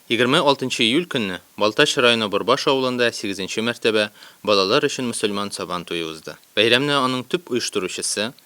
26 июль көнне Балтач районы Борбаш авылында 8 мәртәбә балалар өчен мөселман Сабан туе узды. Бәйрәмне аның төп оештыручысы,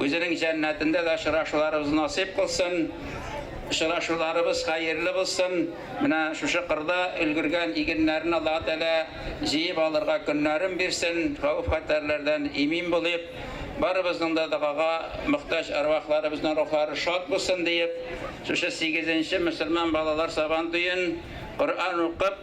Үзенең җәннәтендә дә очрашуларыбыз насыйп кылсын. Очрашуларыбыз хәерле булсын. Менә шушы кырда өлгергән игеннәрен Аллаһы Тәгалә җыеп алырга көннәрен бирсен. Хәвеф-хәтәрләрдән имин булыйк. Барыбызның да догага мохтаҗ әрвахларыбызның рухлары шат булсын диеп, шушы сигезенче мөселман балалар Сабантуен Коръән укып,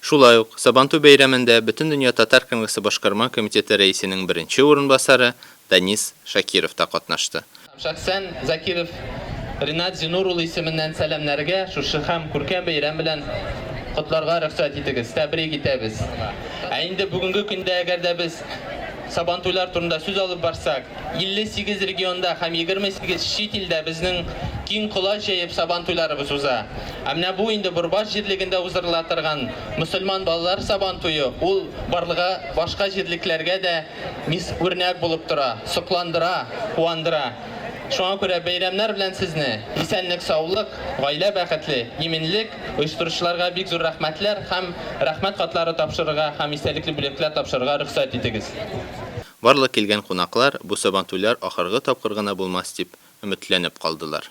Шулай ук, Сабантуй бәйрәмендә Бөтендөнья татар конгрессы башкарма комитеты рәисенең беренче урынбасары Данис Шакиров та катнашты. Шәхсән Закиров Ринат Зинур улы исеменнән сәламнәргә, шушы һәм күркәм бәйрәм белән котларга рөхсәт итегез, тәбрик итәбез. Ә инде бүгенге көндә әгәр дә без Сабантуйлар турында сүз алып барсак, 58 регионда һәм 28 чит илдә безнең киң колач җәеп Сабантуйларыбыз уза. Ә менә бу инде Борбаш җирлегендә уздырыла торган мөселман балалар Сабан туе, ул барлыга башка җирлекләргә дә мис үрнәк булып тора, сокландыра, куандыра. Шуңа күрә бәйрәмнәр белән сезне, исәнлек-саулык, гаилә бәхетле, иминлек, оештыручыларга бик зур рәхмәтләр һәм Рәхмәт хатлары тапшырырга һәм истәлекле бүләкләр тапшырырга рөхсәт итегез. Барлык килгән кунаклар бу Сабантуйлар ахыргы тапкыр гына булмас дип, өметләнеп калдылар.